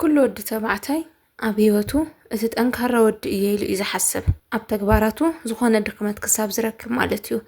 ኩሉ ወዲ ተባዕታይ ኣብ ህይወቱ እቲ ጠንካራ ወዲ እየ ኢሉ እዩ ዝሓስብ ኣብ ተግባራቱ ዝኾነ ድኽመት ክሳብ ዝረክብ ማለት እዩ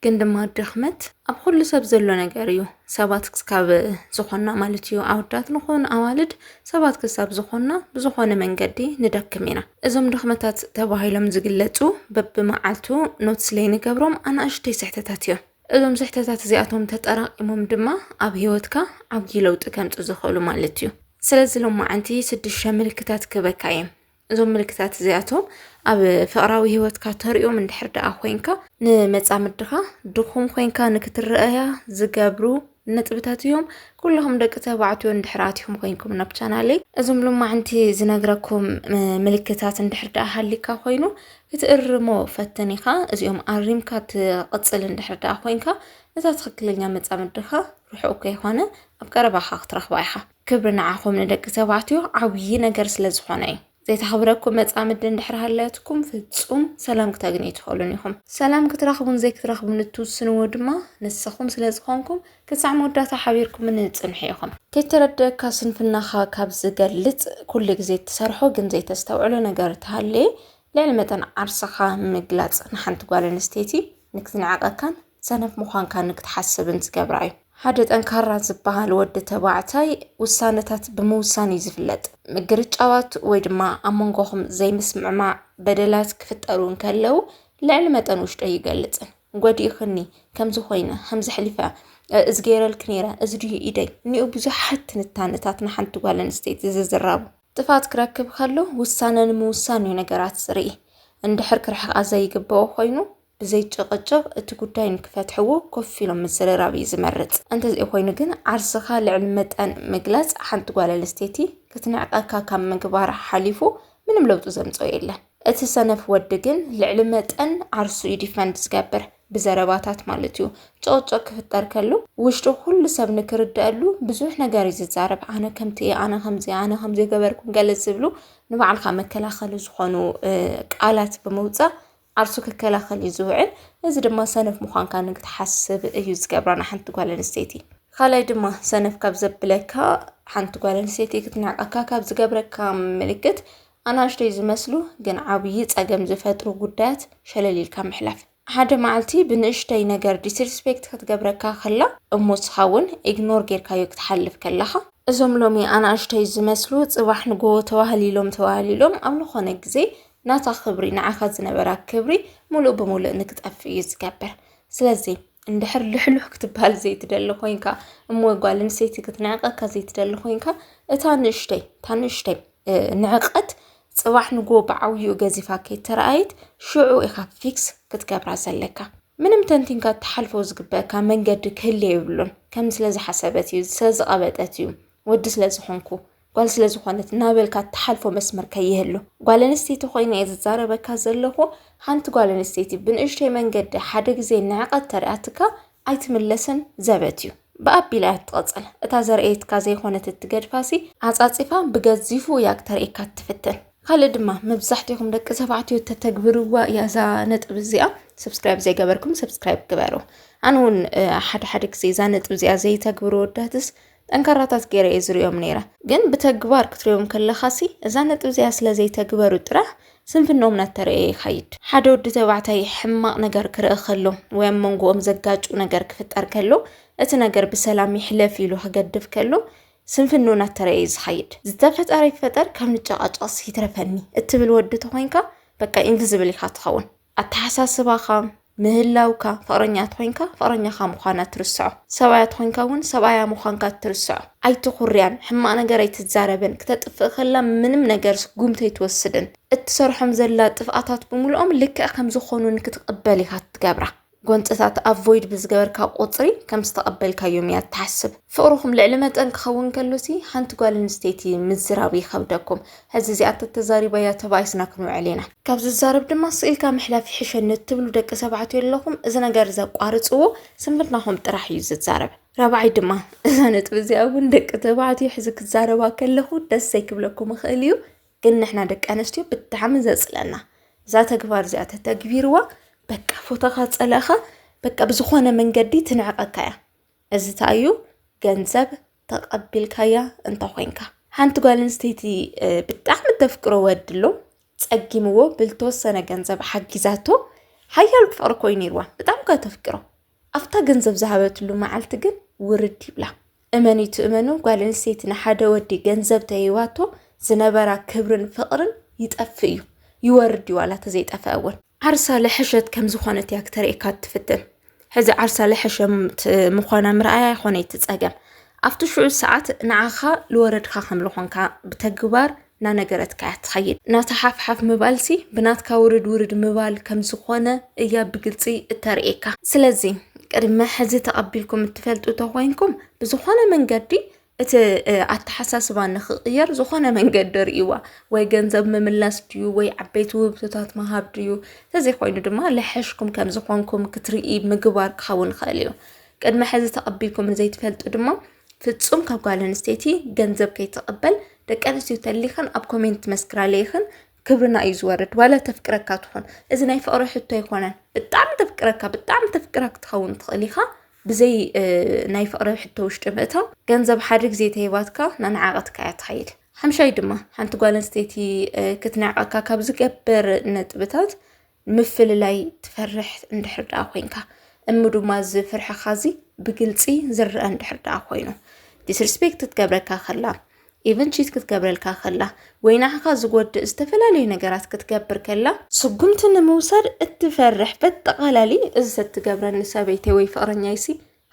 ግን ድማ ድኽመት ኣብ ኩሉ ሰብ ዘሎ ነገር እዩ ሰባት ክስካብ ዝኾና ማለት እዩ ኣወዳት ንኾን ኣዋልድ ሰባት ክሳብ ዝኾና ብዝኾነ መንገዲ ንደክም ኢና እዞም ድኽመታት ተባሂሎም ዝግለጹ በብመዓልቱ ኖትስ ለይ ንገብሮም ኣናእሽተይ ስሕተታት እዮም እዞም ስሕተታት እዚኣቶም ተጠራቂሞም ድማ ኣብ ሂወትካ ዓብዪ ለውጢ ከምፅ ዝኽእሉ ማለት እዩ ስለዚ ሎም መዓንቲ ስድሸ ምልክታት ክበካ እዮም እዞም ምልክታት እዚኣቶም ኣብ ፍቕራዊ ሂወትካ ተሪኦም እንድሕር ደኣ ኮንካ ንመፃምድኻ ድኹም ኮንካ ንክትረአያ ዝገብሩ ነጥብታት እዮም ኩልኹም ደቂ ተባዕትዮ እንድሕር ኣትኹም ኮይንኩም ናብ ቻናለይ እዞም ሎማዕንቲ ዝነግረኩም ምልክታት እንድሕር ደኣ ሃሊካ ኮይኑ ክትእርሞ ፈትን ኢኻ እዚኦም ኣሪምካ ትቕፅል እንድሕር ደኣ ኮንካ እዛ ትኽክለኛ መፃምድኻ ርሑቕ ከይኾነ ኣብ ቀረባኻ ክትረኽባ ኢኻ ክብሪ ንዓኹም ንደቂ ተባዕትዮ ዓብዪ ነገር ስለ ዝኾነ እዩ ዘይተኸብረኩም መጻምዲ እንድሕር ሃለያትኩም ፍጹም ሰላም ክተግንዩ ትኽእሉን ኢኹም። ሰላም ክትረኽቡን ዘይክትረኽቡን እትውስንዎ ድማ ንስኹም ስለ ዝኾንኩም ክሳዕ መወዳእታ ሓቢርኩምኒ ጽንሑ ኢኹም። ከይተረደኣካ ስንፍናኻ ካብ ዝገልጽ ኩሉ ግዜ እትሰርሖ ግን ዘይተስተውዕሎ ነገር ተሃለየ ልዕሊ መጠን ዓርስኻ ምግላጽ ንሓንቲ ጓል ኣንስተይቲ ንክትንዕቐካን ሰነፍ ምዃንካ ንክትሓስብን ዝገብራ እዩ። ሓደ ጠንካራ ዝበሃል ወዲ ተባዕታይ ውሳነታት ብምውሳን እዩ ዝፍለጥ። ምግርጫዋት ወይ ድማ ኣብ መንጎኹም ዘይምስምዕማዕ በደላት ክፍጠሩ እንከለው ልዕሊ መጠን ውሽጦ ይገልፅን ጎዲእኽኒ ከምዚ ኮይነ ከምዚ ሕሊፈ እዚ ገይረልኪ ነይረ እዚ ድዩ ኢደይ እኒኡ ብዙሓት ትንታነታት ንሓንቲ ጓል ኣንስተይቲ ዝዝራቡ ጥፋት ክረክብ ከሎ ውሳነ ንምውሳን እዩ ነገራት ዝርኢ እንድሕር ክርሕቃ ዘይግበኦ ኮይኑ ብዘይ ጭቕጭቕ እቲ ጉዳይ ንክፈትሕዎ ኮፍ ኢሎም ምዝርራብ እዩ ዝመርጽ። እንተዘይኮይኑ ግን ዓርስኻ ልዕሊ መጠን ምግላጽ ሓንቲ ጓል ኣንስተይቲ ክትንዕቀካ ካብ ምግባር ሓሊፉ ምንም ለውጢ ዘምጽኦ የለን። እቲ ሰነፍ ወዲ ግን ልዕሊ መጠን ዓርሱ እዩ ዲፈንድ ዝገብር ብዘረባታት ማለት እዩ። ጨቕጨቕ ክፍጠር ከሎ ውሽጡ ኩሉ ሰብ ንክርደኣሉ ብዙሕ ነገር እዩ ዝዛረብ። ኣነ ከምቲ እየ፣ ኣነ ከምዚ፣ ኣነ ከምዘይገበርኩን ገለ ዝብሉ ንባዕልካ መከላኸሊ ዝኾኑ ቃላት ብምውጻእ ዓርሱ ክከላኸል እዩ ዝውዕል። እዚ ድማ ሰነፍ ምዃንካ ንክትሓስብ እዩ ዝገብራ ንሓንቲ ጓል ኣንስተይቲ። ካልኣይ ድማ ሰነፍ ካብ ዘብለካ ሓንቲ ጓል ኣንስተይቲ ክትንዕቀካ ካብ ዝገብረካ ምልክት ኣናእሽተይ ዝመስሉ ግን ዓብዪ ፀገም ዝፈጥሩ ጉዳያት ሸለል ኢልካ ምሕላፍ። ሓደ መዓልቲ ብንእሽተይ ነገር ዲስሪስፔክት ክትገብረካ ከላ እሞ ንስኻ እውን ኢግኖር ጌርካዮ ክትሓልፍ ከለኻ እዞም ሎሚ ኣናእሽተይ ዝመስሉ ፅባሕ ንጎ ተዋህሊሎም ተዋህሊሎም ኣብ ዝኾነ ግዜ ናታ ክብሪ ንዓኻ ዝነበራ ክብሪ ሙሉእ ብሙሉእ ንክጠፍእ እዩ ዝገብር ስለዚ እንድሕር ልሕሉሕ ክትበሃል ዘይትደሊ ኮንካ እሞ ጓል ኣንስተይቲ ክትንዕቀካ ዘይትደሊ ኮንካ እታ ንእሽተይ እታ ንእሽተይ ንዕቀት ፅባሕ ንጎ ብዓብይኡ ገዚፋ ከይተረኣየት ሽዑ ኢኻ ፊክስ ክትገብራ ዘለካ ምንም ተንቲንካ እትሓልፎ ዝግበካ መንገዲ ክህልየ ይብሉን ከም ስለ ዝሓሰበት እዩ ስለ ዝቐበጠት እዩ ወዲ ስለ ዝኾንኩ ጓል ስለ ዝኾነት እናበልካ እትሓልፎ መስመር ከይህሉ ጓል ኣንስተይቲ ኮይነ እየ ዝዛረበካ ዘለኹ ሓንቲ ጓል ኣንስተይቲ ብንእሽተይ መንገዲ ሓደ ግዜ ንዕቐት ተሪኣትካ ኣይትምለስን ዘበት እዩ ብኣቢላ እያ ትቐፅል እታ ዘርእየትካ ዘይኮነት እትገድፋሲ ዓፃፂፋ ብገዚፉ እያ ክተርእካ እትፍትን ካልእ ድማ መብዛሕትኹም ደቂ ተባዕትዮ ተተግብርዋ እያ እዛ ነጥብ እዚኣ ሰብስክራይብ ዘይገበርኩም ሰብስክራይብ ግበሩ ኣነ እውን ሓደ ሓደ ግዜ እዛ ነጥብ እዚኣ ዘይተግብሩ ወዳትስ ጠንካራታት ገይረ እየ ዝሪኦም ነይረ። ግን ብተግባር ክትሪኦም ከለኻሲ እዛ ነጥቢ እዚኣ ስለ ዘይተግበሩ ጥራሕ ስንፍንኦም እናተረእየ ይኸይድ። ሓደ ወዲ ተባዕታይ ሕማቕ ነገር ክርኢ ከሎ ወይ ኣብ መንጎኦም ዘጋጩ ነገር ክፍጠር ከሎ እቲ ነገር ብሰላም ይሕለፍ ኢሉ ክገድፍ ከሎ ስንፍንኡ እናተረእየ እዩ ዝኸይድ። ዝተፈጠረ ይፈጠር ካብ ንጨቓጨቕስ ይትረፈኒ እትብል ወዲ ተኾይንካ በቃ ኢንቪዝብል ኢኻ ትኸውን። ኣተሓሳስባኻ ምህላውካ ፍቕረኛ ተኾይንካ ፍቕረኛኻ ምዃና ትርስዖ ሰብኣያ ተኾይንካ እውን ሰብኣያ ምዃንካ ትርስዖ ኣይትኹርያን ሕማቕ ነገር ኣይትዛረብን ክተጥፍእ ከላ ምንም ነገር ስጉምቲ ኣይትወስድን እትሰርሖም ዘላ ጥፍኣታት ብምልኦም ልክዕ ከም ዝኾኑ ንክትቕበል ኢኻ ትገብራ ጎንፅታት ኣቮይድ ብዝገበርካ ቁፅሪ ከም ዝተቐበልካዮም እያ ትሓስብ ፍቕርኹም ልዕሊ መጠን ክኸውን ከሎሲ ሓንቲ ጓል ኣንስተይቲ ምዝራብ ይኸብደኩም ሕዚ እዚኣ ተተዛሪበያ ተባኢስና ክንውዕል ኢና። ካብ ዝዛረብ ድማ ስቅ ኢልካ ምሕላፍ ይሕሸኒ እትብሉ ደቂ ተባዕትዮ ኣለኹም እዚ ነገር እዚ ኣቋርጽዎ ስንፍናኹም ጥራሕ እዩ ዝዛረብ። ራብዓይ ድማ እዛ ነጥቢ እዚኣ እውን ደቂ ተባዕትዮ ሕዚ ክዛረባ ከለኹ ደስ ዘይክብለኩም ይኽእል እዩ ግን ንሕና ደቂ ኣንስትዮ ብጣዕሚ ዘጽለና እዛ ተግባር እዚኣ ተተግቢርዋ በቃ ፎቶኻ ጸላእኻ በቃ ብዝኾነ መንገዲ ትንዕቐካ እያ። እዚ እንታይ እዩ ገንዘብ ተቐቢልካያ እንተኾይንካ ሓንቲ ጓል ኣንስተይቲ ብጣዕሚ ተፍቅሮ ወዲ ኣሎ ጸጊምዎ ብልተወሰነ ገንዘብ ሓጊዛቶ ሓያል ፍቕሪ ኮይኑ ነይርዋ ብጣዕሚ ኳ ተፍቅሮ ኣብታ ገንዘብ ዝሃበትሉ መዓልቲ ግን ውርድ ይብላ እመን እዩ ትእመኑ ጓል ኣንስተይቲ ንሓደ ወዲ ገንዘብ ተይዋቶ ዝነበራ ክብርን ፍቕርን ይጠፍእ እዩ ይወርድ እዩ ዋላ ተዘይጠፈአ እውን ዓርሳ ለሕሸት ከም ዝኾነት እያ ክተርእየካ እትፍትን ሕዚ ዓርሳ ለሐሸም ምዃና ምርኣያ ይኾነ እቲ ፀገም ኣብቲ ሽዑ ሰዓት ንዓኻ ልወረድካ ከም ልኾንካ ብተግባር ናነገረትካ እያ ትኸይድ ናታ ሓፍሓፍ ምባልሲ ብናትካ ውርድ ውርድ ምባል ከም ዝኾነ እያ ብግልፂ እተርእየካ ስለዚ ቅድመ ሕዚ ተቐቢልኩም እትፈልጡ ተኾይንኩም ብዝኾነ መንገዲ እቲ ኣተሓሳስባ ንክቕየር ዝኾነ መንገዲ ርእይዋ ወይ ገንዘብ ምምላስ ድዩ ወይ ዓበይቲ ውህብቶታት ምሃብ ድዩ ተዘይኮይኑ ድማ ለሐሽኩም ከም ዝኾንኩም ክትርኢ ምግባር ክኸውን ይኽእል እዩ ቅድሚ ሕዚ ተቐቢልኩም ንዘይትፈልጡ ድማ ፍጹም ካብ ጓል ኣንስተይቲ ገንዘብ ከይትቕበል ደቂ ኣንስትዮ ተሊኽን ኣብ ኮሜንት መስክራለይኽን ክብርና እዩ ዝወርድ ዋላ ተፍቅረካ ትኾን እዚ ናይ ፍቅሪ ሕቶ ኣይኮነን ብጣዕሚ ተፍቅረካ ብጣዕሚ ተፍቅራ ክትኸውን ትኽእል ኢኻ ብዘይ ናይ ፍቅሪ ሕቶ ውሽጢ ምእታው ገንዘብ ሓደ ግዜ ተሂባትካ ናንዓቐትካ እያ ትኸይድ ሓምሻይ ድማ ሓንቲ ጓል ኣንስተይቲ ክትንዕቐካ ካብ ዝገብር ነጥብታት ምፍልላይ ትፈርሕ እንድሕር ደኣ ኮንካ እሙ ድማ እዚ ፍርሕኻ እዚ ብግልፂ ዝረአ እንድሕር ደኣ ኮይኑ ዲስርስፔክት ክትገብረካ ከላ ኢቨን ቺት ክትገብረልካ ከላ ወይ ንዓኻ ዝጎድእ ዝተፈላለዩ ነገራት ክትገብር ከላ ስጉምቲ ንምውሳድ እትፈርሕ በጠቓላሊ እዚ ትገብረኒ ሰበይቲ ወይ ፍቕረኛይሲ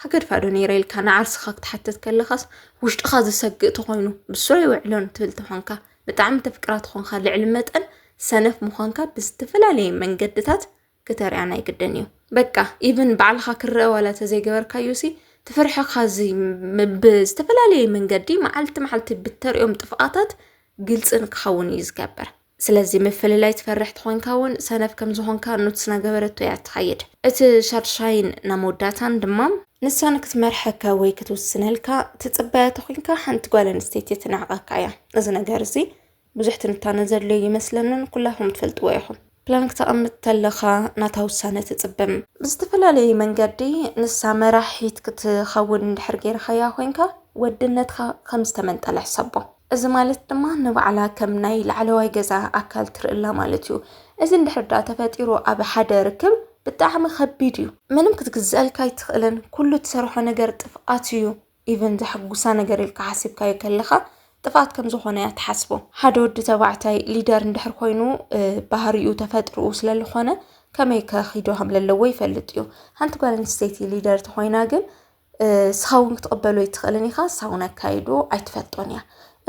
ሃገድፋ ዶ ነይረ ኢልካ ንዓርስኻ ክትሓትት ከለኻስ ውሽጥኻ ዝሰግእ ተኾይኑ ብሱር ኣይውዕሎን ትብል ተኾንካ ብጣዕሚ ተፍቅራ ተኾንካ ልዕሊ መጠን ሰነፍ ምዃንካ ብዝተፈላለየ መንገድታት ክተርያ ናይ ግድን እዩ በቃ ኢቭን ባዕልኻ ክረአ ዋላ ተዘይገበርካዮሲ ትፍርሕኻ እዚ ብዝተፈላለየ መንገዲ መዓልቲ መዓልቲ ብተሪኦም ጥፍኣታት ግልፅን ክኸውን እዩ ዝገበር ስለዚ ምፍልላይ ትፈርሕ ተኾንካ እውን ሰነፍ ከም ዝኾንካ ኑትስ ናገበረቶ እያ ትኸይድ እቲ ሻድሻይን ናብ መወዳእታን ድማ ንሳ ንክትመርሐካ ወይ ክትውስነልካ ትፅበያ ተኾንካ ሓንቲ ጓል ኣንስተይቲ ትንዕቐካ እያ እዚ ነገር እዚ ብዙሕ ትንታነ ዘድልዮ ይመስለንን ኩላኹም ትፈልጥዎ ኢኹም ፕላን ክተቐምጥ ተለኻ ናታ ውሳነ ትፅበም ብዝተፈላለየ መንገዲ ንሳ መራሒት ክትኸውን እንድሕር ገይርካያ ኮንካ ወድነትካ ከም ዝተመንጠለ ሕሰቦ እዚ ማለት ድማ ንባዕላ ከም ናይ ላዕለዋይ ገዛ ኣካል ትርእላ ማለት እዩ። እዚ እንድሕር ዳኣ ተፈጢሩ ኣብ ሓደ ርክብ ብጣዕሚ ከቢድ እዩ። ምንም ክትግዘኣልካ ኣይትኽእልን ኩሉ ትሰርሖ ነገር ጥፍኣት እዩ። ኢቨን ዘሕጉሳ ነገር ኢልካ ሓሲብካዮ ከለኻ ጥፍኣት ከም ዝኾነ እያ ትሓስቦ። ሓደ ወዲ ተባዕታይ ሊደር እንድሕር ኮይኑ ባህሪኡ ተፈጥርኡ ስለ ዝኾነ ከመይ ከኺዶ ከም ዘለዎ ይፈልጥ እዩ። ሓንቲ ጓል ኣንስተይቲ ሊደር ተኾይና ግን ንስኻ እውን ክትቕበሎ ኣይትኽእልን ኢኻ ንሳ እውን ኣካይዶ ኣይትፈልጦን እያ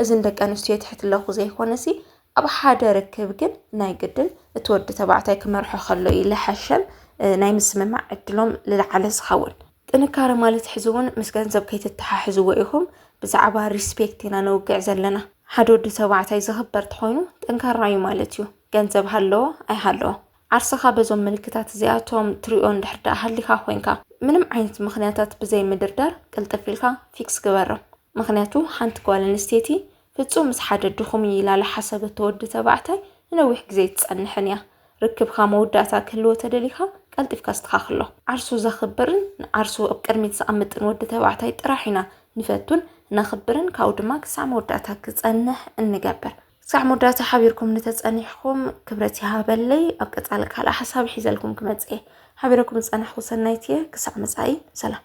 እዚ ንደቂ ኣንስትዮ የትሕትለኹ ዘይኮነሲ ኣብ ሓደ ርክብ ግን ናይ ግድን እቲ ወዲ ተባዕታይ ክመርሖ ከሎ እዩ ልሐሸን ናይ ምስምማዕ ዕድሎም ልለዓለ ዝኸውን ጥንካረ ማለት ሕዚ እውን ምስ ገንዘብ ከይትተሓሕዝዎ ኢኹም ብዛዕባ ሪስፔክት ኢና ነውግዕ ዘለና ሓደ ወዲ ተባዕታይ ዝኽበር ተኾይኑ ጠንካራ እዩ ማለት እዩ ገንዘብ ሃለዎ ኣይሃለዎ ዓርስኻ በዞም ምልክታት እዚኣቶም ትሪኦ እንድሕር ደኣ ሃሊኻ ኮይንካ ምንም ዓይነት ምኽንያታት ብዘይ ምድርዳር ቅልጥፍ ኢልካ ፊክስ ግበሮ። ምኽንያቱ ሓንቲ ጓል ኣንስተይቲ ፍጹም ምስ ሓደ ድኹም እዩ ኢላ ልሓሰበቶ ወዲ ተባዕታይ ንነዊሕ ግዜ ኣይትጸንሕን እያ። ርክብካ መወዳእታ ክህልዎ ተደሊኻ ቀልጢፍካ ኣስተኻኽሎ። ዓርሱ ዘኽብርን ንዓርሱ ኣብ ቅድሚት ዘቐምጥን ወዲ ተባዕታይ ጥራሕ ኢና ንፈቱን ነኽብርን ካብኡ ድማ ክሳዕ መወዳእታ ክጸንሕ እንገብር። ክሳዕ መወዳእታ ሓቢርኩም እንተጸኒሕኩም ክብረት ይሃበለይ ኣብ ቀጻሊ ካልእ ሓሳብ ሒዘልኩም ክመጽእ እየ ሓቢረኩም ዝጸናሕኩ ሰናይት እየ ክሳዕ መጻኢ ሰላም